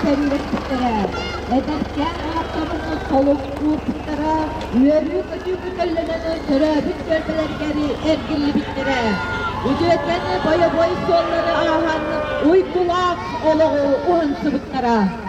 кэллэппиттэрэ эдэркээн ааптарынан солун ууппуттара үөрүү-көтүү көтөллөнөнө төрөөбүт түөлбэлэргэр эргиллибиттэрэ үтүөкэни бойобуой суоллары ааһан уйгулаах олоҕу уһансыбыттара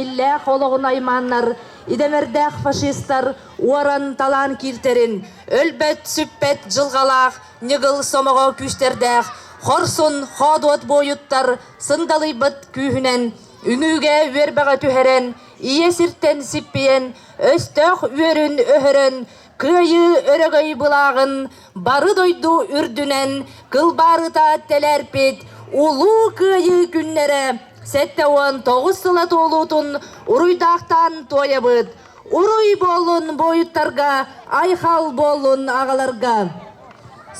иллээх олоҕун аймааннар идэмэрдээх фашистар уоран талаан кииртэрин өлбөт сүппэт дьылҕалаах ньыгыл сомоҕо күүстэрдээх хорсун хоодуот буойуттар сындалыйбыт күүһүнэн үнүүгэ үөрбэҕэ түһэрэн ийэ сиртэн сиппийэн өстөөх үөрүн өһөрөн кыайыы өрөгөй былааҕын бары дойду үрдүнэн кылбаарыта тэлээрпит улуу кыайыы күннэрэ сэттэ уон тоҕус сыла туолуутун уруйдаахтаан туойабыт Уруй буоллун буойуттарга, айхал буоллун аҕаларга!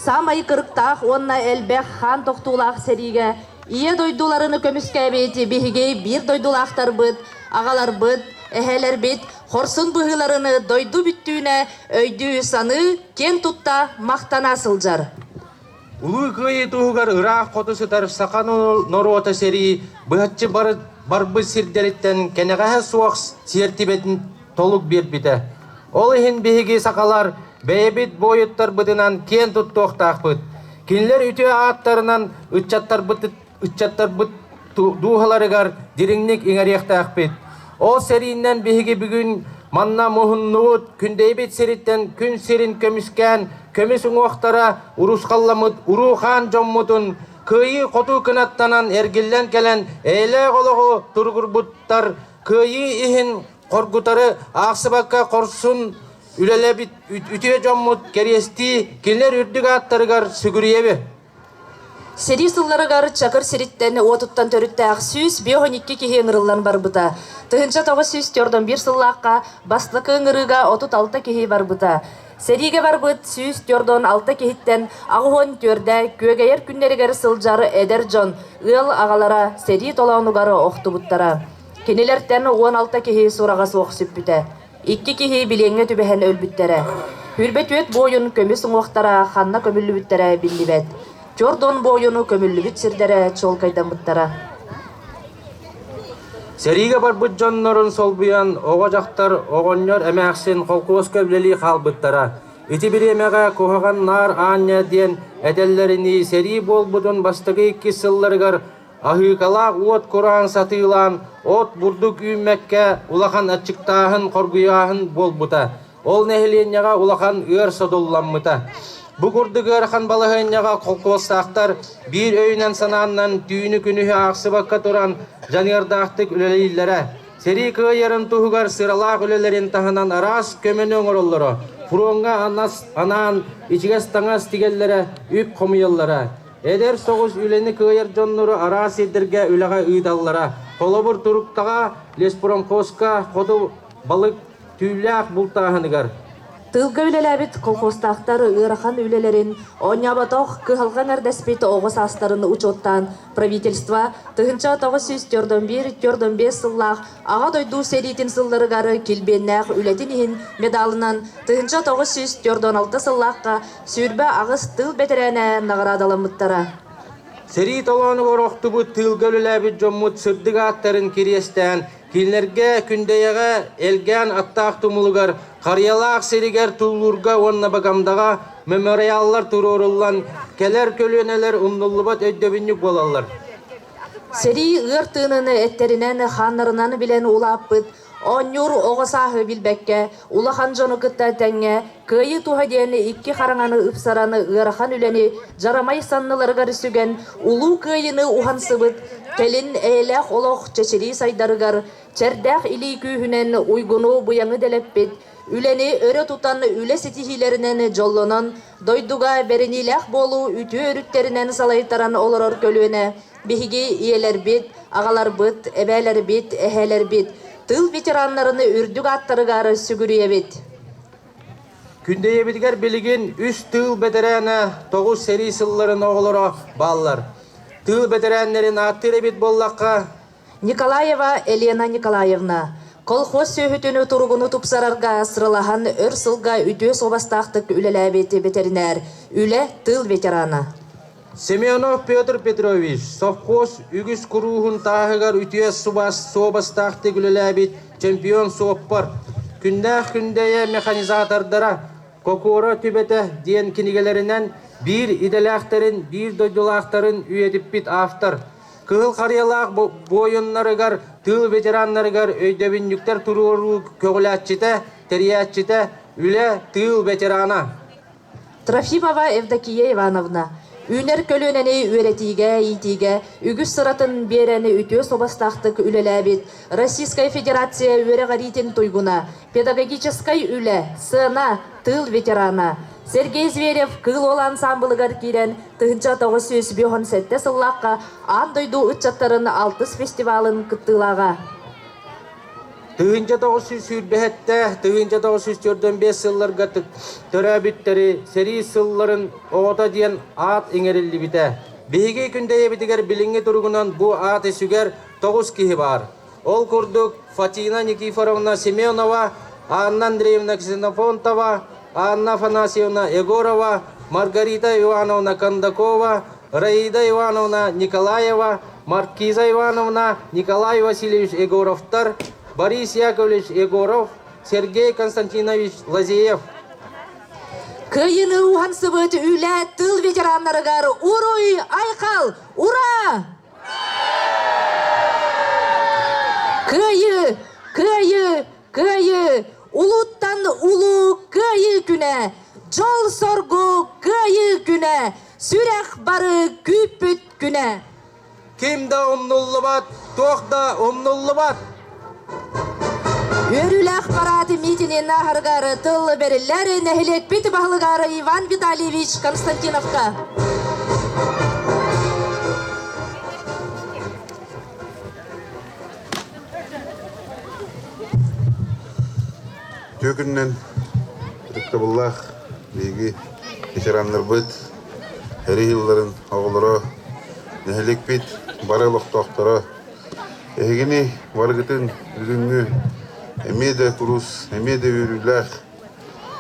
Саамай кырыктаах уонна элбэх хаан тохтуулаах сэриигэ Ийэ дойдуларын көмүскээбит биһиги биир дойдулаахтарбыт, аҕаларбыт, эһэлэрбит хорсун быһыыларын дойду бүттүүнэ өйдүү-саныы киэн тутта махтана сылдьар. Улуу Кыайыы туһугар ыраах хоту сытар саха норуота сэрии быһаччы барбыт сирдэриттэн кэнэҕэһэ суох сиэртибэтин толук биэрбитэ. Ол иһин биһиги сахалар бэйэбит буойуттарбытынан киэн туттуохтаахпыт. Кинилэр үтүө ааттарынан ыччаттарбыт ыччаттарбыт дууһаларыгар дириҥник иҥэриэхтээхпит. Ол сэрииннэн биһиги бүгүн манна муһуннубут күндэйбит сириттэн күн сирин көмүскээн көмүс уҥуохтара урусхалламмыт уруухаан дьоммутун кыайыы-хотуу кынаттанан эргиллэн кэлэн эйэлээх олоҕу туругурбуттар кыайыы иһин хоргутары аахсыбакка хорсун үлэлэбит үтүө дьоммут кэриэстии кинилэр үрдүк ааттарыгар сүгүрүйэбит Сэрии сылларыгар Чакыр сириттэн уотуттан төрүттээх сүүс биэс он икки киһи ыҥырыллан барбыта. Тыһыынча тоҕус сүүс төрт он биир сыллаахха бастакы ыҥырыыга отут алта киһи барбыта. Сэриигэ барбыт сүүс төрт он алта киһиттэн аҕыс уон түөрдэ күөгэйэр күннэригэр сылдьар эдэр дьон ыал аҕалара сэрии толоонугар охтубуттара. Кинилэртэн уон алта киһи сураҕа суох сүппүтэ. Икки киһи билиэҥҥэ түбэһэн өлбүттэрэ. Үрбэ-түөт буойун көмүс уҥуохтара ханна көмүллүбүттэрэ биллибэт. Чордон буойуну көмүллүбүт сирдэрэ чуолкайдаммыттара. Сэриигэ барбыт дьоннорун солбуйан оҕо-дьахтар оҕонньор эмээхсин холкуоска үлэлии хаалбыттара. Ити бириэмэҕэ куһаҕан наар аанньа диэн этэллэринии сэрии буолбутун бастакы иккис сылларыгар Аһыыкалаах уот кураан сатыылаан, от бурдук үүммэккэ улахан аччыктааһын, хоргуйааһын буолбута. Ол нэһилиэнньэҕэ улахан ыар содулламмыта. Бу курдук ыарахан балаһыанньаҕа холкуостаахтар биир өйүнэн-санааннан түүнү-күнүһү аахсыбакка туран дьаныардаахтык үлэлииллэрэ. Сэрии кыайарын туһугар сыралаах үлэлэрин таһынан араас көмөнү оҥороллоро, фроҥҥа анас анаан ичигэс таҥас тигэллэрэ, үп хомуйаллара. Эдэр соҕус үлэни кыайар дьоннору араас сирдэргэ үлэҕэ ыыталлара. Холобур, туруктаҕа Леспромхозка хоту балык түүллээх бултааһыныгар. Тыылга үлэлээбит колхозтаахтар ыарахан үлэлэрин, оонньооботох, кыһалҕа эҥэрдэспит оҕо саастарын учуоттаан, правительство тыһыынча тоҕус сүүс түөрт биир түөрт биэс сыллаах Аҕа дойду сэриитин сылларыгар килбиэннээх үлэтин иһин медалынан тыһыынча тоҕус сүүс түөрт алта сыллаахха Сүүрбэ аҕыс тыыл бэтэрээнэ наҕараадаламмыттара. Сэрии толоонугар охтубут тыылга үлэлээбит дьоммут сырдык ааттарын кириэстээн, кинилэргэ Күндэйэҕэ элгээн аттаах тумулугар, Харыйалаах сиригэр туллуурга уонна Багамдаҕа мемориаллар туруоруллан, кэлэр көлүөнэлэр умнуллубат өйдөбүнньүк буолаллар. Сэрии ыар тыыныны эттэринэн, хааннарынан билэн улааппыт Оонньуур оҕо сааһы билбэккэ, улахан дьону кытта тэҥҥэ Кыайыы туһа диэни икки хараҥаны ыпсараны ыарахан үлэни дьарамай санныларыгар сүгэн, Улуу Кыайыыны уһансыбыт, кэлин эйэлээх олох чэчирии сайдарыгар, чэрдээх илии күүһүнэн уйгуну-быйаҥы дэлэппит, үлэни өрө тутан, үлэ ситиһиилэринэн дьоллонон, Дойдуга бэриниилээх буолуу үтүө өрүттэринэн салайтаран олорор көлүөнэ биһиги ийэлэрбит, аҕаларбыт, эбээлэрбит, эһээлэрбит, тыыл ветераннарын үрдүк ааттарыгар сүгүрүйэбит. Күндэйэбитигэр билигин үс тыыл бэтэрээнэ тоҕус сэрии сылларын оҕолоро бааллар. Тыыл бэтэрээннэрин ааттыыр эбит буоллахха, Николаева Елена Николаевна колхоз сүөһүтүн туругуну тупсарарга сыралаһан өр сылга үтүө суобастаахтык үлэлээбит ветеринэр, үлэ тыл ветерана. Семенов Петр Петрович совхоз үгүс курууһун тааһыгар үтүө суобастаахтык үлэлээбит чемпион суоппар, күннээх күндэйэ механизатордара Кокуора түбэтэ диэн кинигэлэринэн биир идэлээхтэрин, биир дойдулаахтарын үйэтиппит автор, Кыһыл Харыйалаах буойуннарыгар, тыыл ветераннарыгар өйдөбүнньүктэр туруоруу көҕүлээччитэ, тэрийээччитэ, үлэ, тыыл ветерана. Трофимова Евдокия Ивановна, үүнэр көлүөнэни үөрэтиигэ-иитиигэ үгүс сыратын биэрэн үтүө суобастаахтык үлэлээбит Российскай Федерация үөрэҕириитин туйгуна, Педагогическай үлэ сыана тыыл ветерана Сергей Зверев Кыыл Уол ансаамбылыгар киирэн тыһыынча тоҕус сүүс биоһун сэттэ сыллаахха аан дойду ыччаттарын алтыс фестивалын кыттыылааҕа. Тыһыынча тоҕус сүүс сүүрбэһэтте, тыһыынча тоҕус сүүс төрдөн биэс сылларга төрөөбүттэрэ сэрии сылларын оҕото диэн аат иҥэриллибитэ. Биһиги күндэйэбитигэр билиҥҥи туругунан бу аат үсүгэр тоҕус киһи баар. Ол курдук Фатина Никифоровна Семенова, Анна Андреевна Ксенофонтова, Анна Афанасьевна Егорова, Маргарита Ивановна Кондакова, Раида Ивановна Николаева, Маркиза Ивановна, Николай Васильевич Егоровтар, Борис Яковлевич Егоров, Сергей Константинович Лазеев. Кыйыны уһансыбыт үлэ тыл ветераннарыгар уруй, айхал, ура! Кыайыы! Кыайыы! Кыайыы! Улууттан улуу Кыайыы күнэ! Дьол-соргу Кыайыы күнэ! Сүрэх бары күүппүт күнэ! Ким да умнуллубат, туох да умнуллубат! Үөрүүлээх парааты миитинин ааһарыгар тыл бэриллэр нэһилиэкпит баһылыгар Иван Витальевич Константиновка. Түөкүннэн ырыктабыллаах биһиги ветераннарбыт эри ыылларын оҕолоро, нэһилиэкпит бары олохтоохторо Эһигини барыгытын бүгүҥҥү эмиэ да курус, эмиэ да үөрүүлээх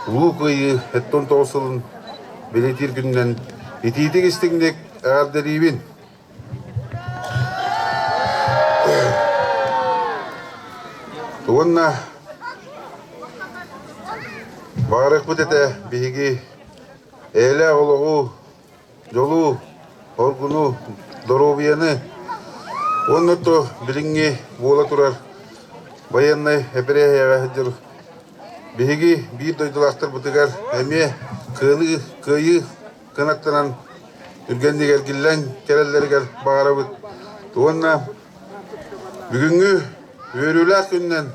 Улуу Кыайыы сэттэ тоҕус сылын бэлэтиир күнүнэн итиитик-истиҥник эҕэрдэлиибин! Уонна баарыкпыт этэ биһиги эйэлээх олоҕу дьолу, оргуну, доруобуйаны уонна то билиҥҥи буола турар байыаннай эпэрээһиэҕэ сылдьар биһиги биир дойдулаахтарбытыгар эмиэ кыаныы, кыайыы кынаттанан түргэнник эргиллэн кэлэллэригэр баҕарабыт уонна бүгүҥҥү үөрүүлээх күнүнэн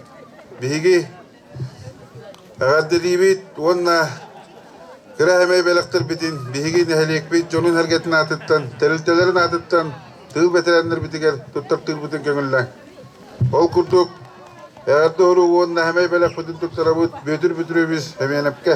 биһиги Эҕэрдэлиибит уонна кыра эмэй бэлэхтэрбитин, биһиги нэһилиэкпит дьонун эргэтин аатыттан, тэрилтэлэрин аатыттан тыыл бэтэрээннэрбитигэр туттартыырбытын көҥүллэҥ. Ол курдук, эҕэрдэ уруогу уонна эмэй бэлэхпитин туттарабыт Бүөтүр Бүтүрүөбүс Эмиэнэпкэ!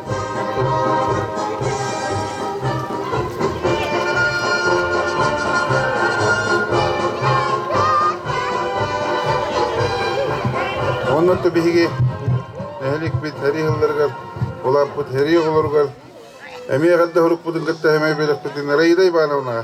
Онно биһиги нэһиликпит эрий ыылларыгар, улааппыт эрий оҕолоругар эмиэ эрдэ хорукпутун кытта эмиэ бэлэхпитин Раида Ивановнаҕа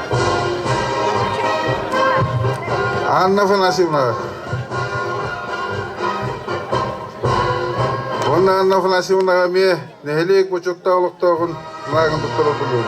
Анна Афанасьевна. Уонна Анна Афанасьевнаҕа эмиэ нэһилиэк бочуоттаах олохтооҕун наагын туттара булуум.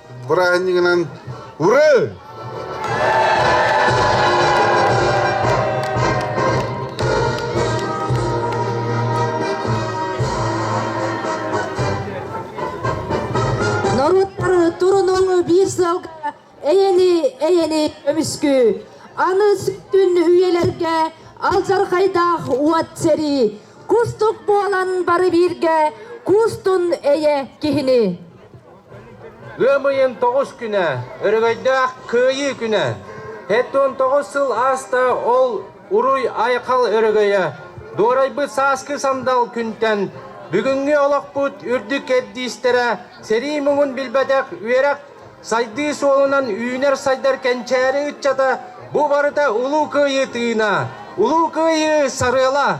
бырааһынньыгынан «Ура!» Норуоттар турунуу биир сылга эйэни эйэни көмүскүү аны сүттүн үйэлэргэ алдьархайдаах уот сэрии кустук буолан бары бииргэ куустун эйэ киһини Ыам ыйын тоҕус күнэ, өрөгөйдөөх Кыайыы күнэ. Сэттэ уон тоҕус сыл ааста ол уруй-айхал өрөгөйө. Дуорайбыт сааскы сандал күнтэн бүгүҥҥү олохпут үрдүк кэрдиистэрэ сэрии муҥун билбэтэх үөрэх сайдыы суолунан үүнэр-сайдар кэнчээри ыччата бу барыта Улуу Кыайыы тыына, Улуу Кыайыы сарыала!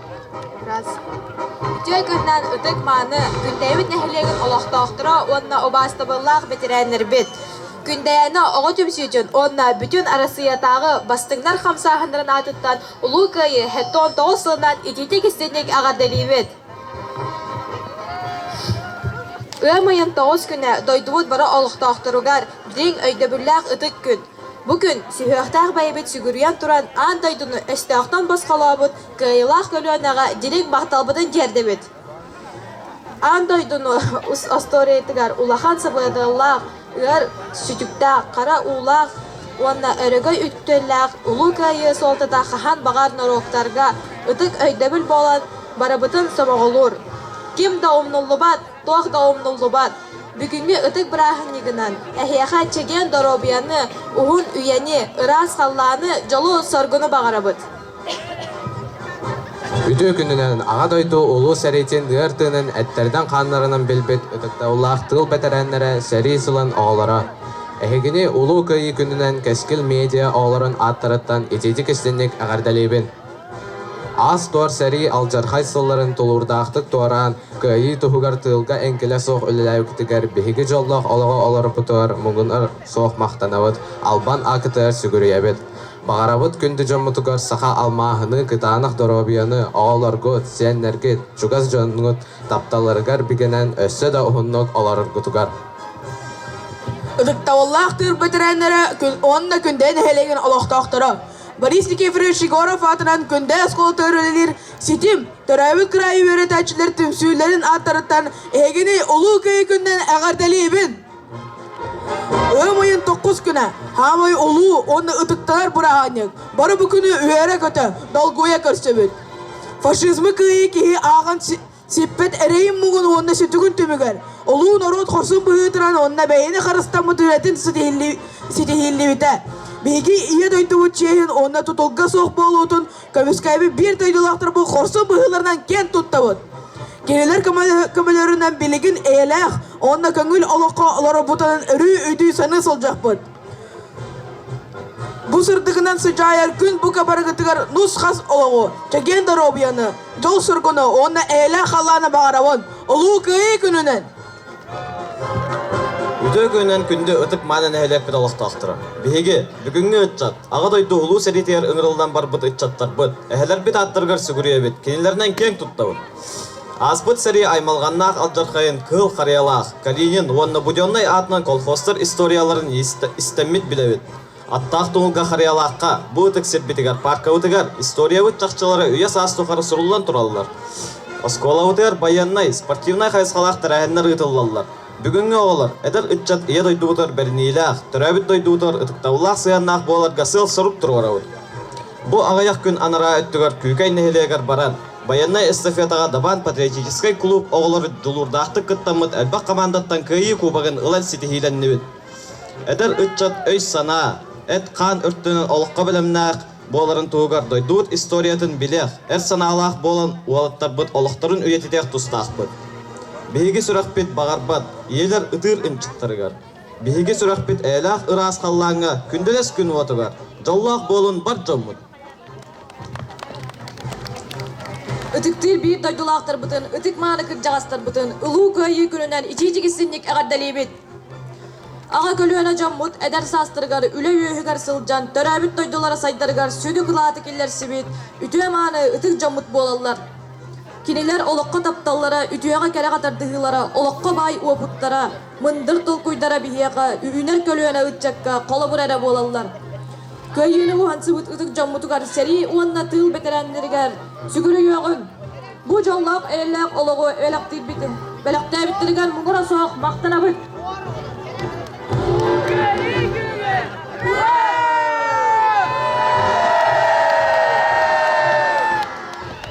Раз. Үтүө күнүнэн ытык-мааны Күндэйбит нэһилиэгин олохтоохторо уонна убаастабыллаах бэтэрээннэрбит! Күндэйэни оҕо түмсүүтүн уонна бүтүн Арассыыйатааҕы бастыҥнар хамсааһыннарын аатыттан Улуу Кыайыы ХЭТТООN тоҕус сылынан итиитик-истинник эҕэрдэлиибит! Ыам ыйын тоҕус күнэ дойдубут бары олохтоохторугар дириҥ өйдөбүллээх ытык күн! Бу күн сүһүөхтээх бэйэбит сүгүрүйэн туран аан дойдуну өстөөхтөн босхолообут кыайыылаах көлүөнэҕэ дириг махталбытын тиэрдэбит аан дойдуну остуоруйатыгар улахан сабыдаллаах ыар сүтүктээх хара уулаах уонна өрөгөй үтүөлээх улуу кыайыы суолтата хаһан баҕар норуоттарга ытык өйдөбүл буолан барыбытын сомоҕолуур ким да умнуллубат туох да умнуллубат бүгүҥҥү ытык бырааһынньыгынан эһиэхэ чэгиэн доруобуйаны уһун үйэни ыраас халлааны дьолу соргуну баҕарабыт Үтүө күнүнэн Аҕа дойду Улуу сэриитин ыар тыынын эттэринэн-хааннарынан билбит ытыктабыллаах тыыл бэтэрээннэрэ сэрии сылын оҕолоро! Эһигини Улуу Кыайыы күнүнэн Кэскил медиа оҕолорун ааттарыттан итиитик-истиҥник эҕэрдэлиибин! Ас-туор сэрии алдьархай сылларын тулуурдаахтык туораан, кыайыы туһугар тыылга эҥкилэ суох үлэлээбиккитигэр биһиги дьоллоох олоҕу олорпутугар муҥур суох махтанабыт, албан ааккытыгар сүгүрүйэбит. Баҕарабыт күндү дьоммутугар саха алмааһыны, кытаанах доруобуйаны, оҕолоргут, сиэннэргит, чугас дьоҥҥут тапталларыгар бигэнэн өссө да уһуннук олороргутугар! Ытыктабыллаах тыыр бэтэрээннэрэ күн уонна Күндэй нэһилиэгин олохтоохторо Борис Никифорович Егоров аатынан Күндэй оскуолата үлэлиир Ситим төрөөбүт кыраайы үөрэтээччилэр түмсүүлэрин ааттарыттан эһигини Улуу Кыайыы күнүнэн эҕэрдэлиибин! Ыам ыйын тоkkус күнэ хаамай олуу уонна ытыктанар быраһаанньык бары бу күнү үөрэ-көтө, долгуйа көрсөбүт. Фашизмы кыайыы киһи ааҕан сиппэт эрэйин-муҥун уонна сүтүгүн түмүгэр олуу норуот хорсун быһыытынан уонна бэйэни харыстаммыт үлэтин ситиһиллибитэ. Биһиги Ийэ дойдубут чиэһин уонна тутулга суох буолуутун Көмүскээби биир дойдулаахтар бу хорсун быһыыларынан киэн туттабыт. Кинилэр көмөлөрүнэн билигин эйэлээх уонна көҥүл олоххо олорбутунан өрүү-үтүү саныы сылдьахпыт. Бу сырдыгынан сыдьаайар күн бука барыгытыгар нус-хас олоҕу, чэгиэн доруобуйаны, дьол сургуну уонна эйэлээх халлааны баҕарабын. Улуу Кыайыы күнүнэн! Үтүө күнүнэн күндү ытык мааны нэһилиэкпит олохтоохторо! Биһиги, бүгүҥҥү ыччат, Аҕа дойду Улуу сэриитигэр ыҥырыллан барбыт ыччаттарбыт, эһэлэрбит ааттарыгар сүгүрүйэбит, кинилэринэн киэҥ туттабыт. Ааспыт сэрии аймалҕаннаах алдьархайын Кыһыл Харыйалаах, Калинин уонна Буденнай аатынан колхозтар историяларын истэммит билэбит. Аттаах туһулга Харыйалаахха, бу ытык сирбитигэр, пааркабытыгар историябыт чахчылара үйэ-саас тухары суруллан тураллар. Оскуолабытыгар байыаннай, спортивнай хайысхалаах тэрээһиннэр ыытыллаллар. Бүгүҥҥү оҕолор, эдэр ыччат ийэ дойдубутугар бэриниилээх, төрөөбүт дойдубутугар ытыктабыллаах сыһыаннаах буоларга сыал-сорук туруорабыт. Бу аҕыйах күн анараа өттүгэр Күүкэй нэһилиэгэр баран, байыаннай эстафетаҕа Дабаан патриотическай клуб оҕолору дьулуурдаахтык кыттаммыт элбэх хамаандаттан Кыайыы кубогын ылан ситиһиилэннибит. Эдэр ыччат өй-санаа, эт-хаан өртүнэн олоххо бэлэмнээх буоларын туһугар дойдубут историятын билиэх, эр санаалаах буолан уолаттарбыт олохторун үйэтитиэх тустаахпыт. Биһиги сүрэхпит баҕарбат ийэлэр ытыыр ынчыктарыгар. Биһиги сүрэхпит эйэлээх ыраас халлааҥҥа күндэлэс күн уотугар дьоллоох буолун бар дьоммут Ытыктыыр биир дойдулаахтарбытын, ытык-мааны кырдьаҕастарбытын Улуу Кыайыы күнүнэн ичиичик истинник эҕэрдэлиибит! Аҕа көлүөнэ дьоммут эдэр саастарыгар үлэ үөһүгэр сылдьан төрөөбүт дойдулара сайдарыгар сүдү кылааты киллэрсибит үтүө-мааны ытык дьоммут буолаллар. Кинилэр олоххо тапталлара, үтүөҕэ-кэрэҕэ тардыһыылара, олоххо баай уопуттара, Мындыр толкуйдара биһиэхэ үүнэр көлүөнэ ыччакка холобур эрэ буолаллар. Кыайыыны уһансыбыт ытык дьоммутугар сэрии уонна тыыл бэтэрээннэригэр сүгүр өйөөҕүн, бу дьоллоох эйэлээх олоҕу бэлэхтиирбитин, бэлэхтээбиттэригэр муҥура суох махтанабыт.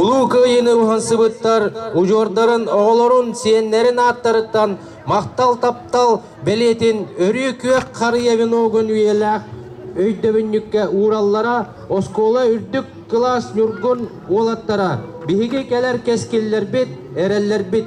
Улуу Кыайыыны уһансыбыттар удьуордарын оҕолорун, сиэннэрин ааттарыттан махтал таптал бэлиэтин өрүү күөх харыйа веногун үйэлээх өйдөбүнньүккэ уураллара, оскуола үрдүк кылаас ньургун уолаттара, биһиги кэлэр кэскиллэрбит, эрэллэрбит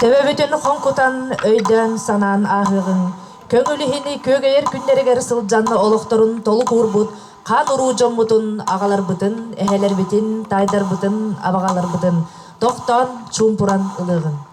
Төбө бүтүн хоҥкутан, өйдөөн-санаан ааһыаҕыҥ. Көҥүл иһини күөгэйэр күннэригэр сылдьанна олохторун толук уурбут хаан-уруу дьоммутун, аҕаларбытын, эһэлэрбитин, таайдарбытын, абаҕаларбытын тохтоон, чуумпуран ылыаҕыҥ.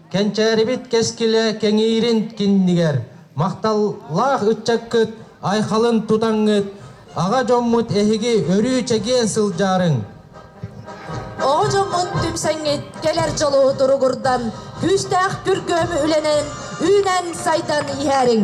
Кэнчээрибит кэскилэ кэҥиирин киннигэр махталлаах ыччаккыт айхалын тутаҥҥыт, аҕа дьоммут эһиги өрүү чэгиэн сылдьаарыҥ. Оҕо дьоммут түмсэҥҥит кэлэр дьолу туругурдан, күүстээх бүргүөм үлэнэн үүнэн сайдан иһээриҥ.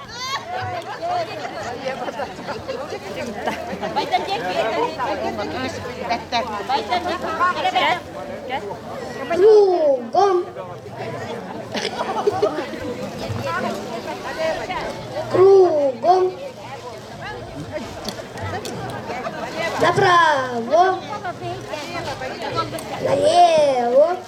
Кругом. Кругом. Направо. Налево.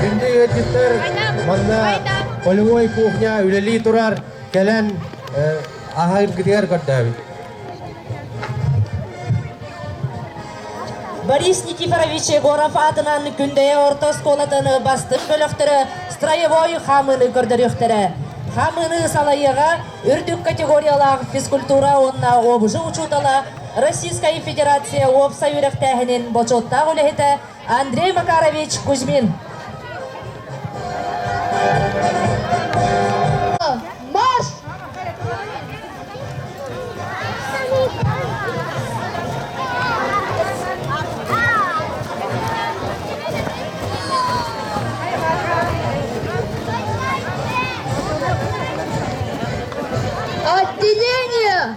Күндү ыалдьыттар, манна полевой кухня үлэлии турар кэлэн аһаргытыгар көрдөөбүт. Борис Никифорович Егоров аатынан Күндэйэ орто оскуолатын бастык бөлөхтөрө строевой хаамыыны көрдөрүөхтэрэ. Хаамыыны салайыыга үрдүк категориялаах физкультура уонна обжи учуутала Российскай Федерация уопсай үөрэхтээһинин бочуоттаах үлэһитэ Андрей Макарович Кузьмин. Марш! Отделение!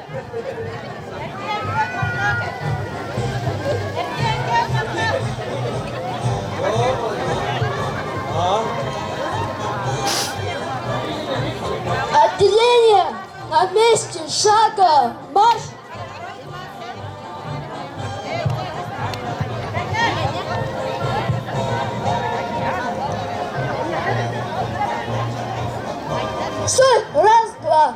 Отделение на месте шага марш Шаг, раз, два.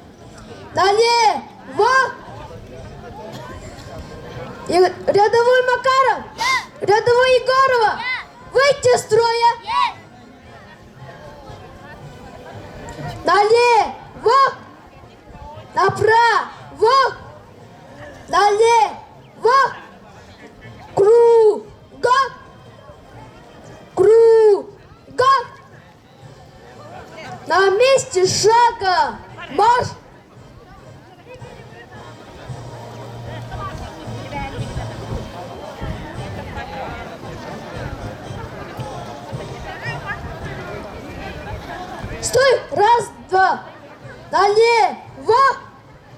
Далее! Вот! И рядовой Макаров! Рядовой Егорова! Выйти из строя! Далее! Вот! Направо! Далее! Вот! Кругом! Кругом! На месте шага марш! Стой! Раз, два! Налево!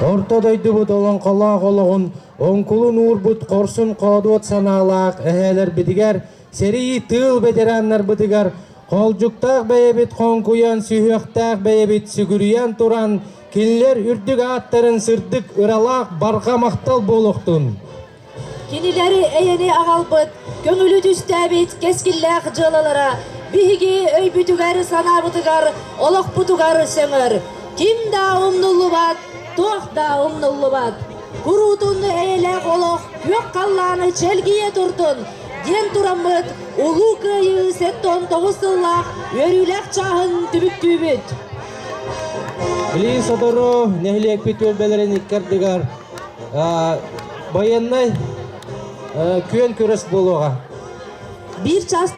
Орто дойдубут олоҥхолоох олоҕун оҥкулун уурбут хорсун-хоодуот санаалаах эһээлэрбитигэр, сэрии тыыл бэтэрээннэрбитигэр Холдьуктаах бэйэбит хоҥкуйан, сүһүөхтээх бэйэбит сүгүрүйэн туран, кинилэр үрдүк ааттарын сырдык ыралаах барҕа махтал буолуохтун! Кинилэри эйэни аҕалбыт, көҥүлү түстээбит кэскиллээх дьыалалара биһиги өйбүтүгэр-санаабытыгар, олохпутугар сыҥыр. Ким да умнуллубат, туох да умнуллубат. Уруутун эйэлээх олох Күөх Халлааны чэлгийэ туртун диэн тураммыт Улуу Кыайыы сэттэ он тоҕус сыллаах үөрүүлээх чааһын түмүктүүбүт. Билии сотору нэһилиэкпит түөлбэлэрин икки ардыгар байыаннай күөн күрэс буолуоҕа. Биир чаас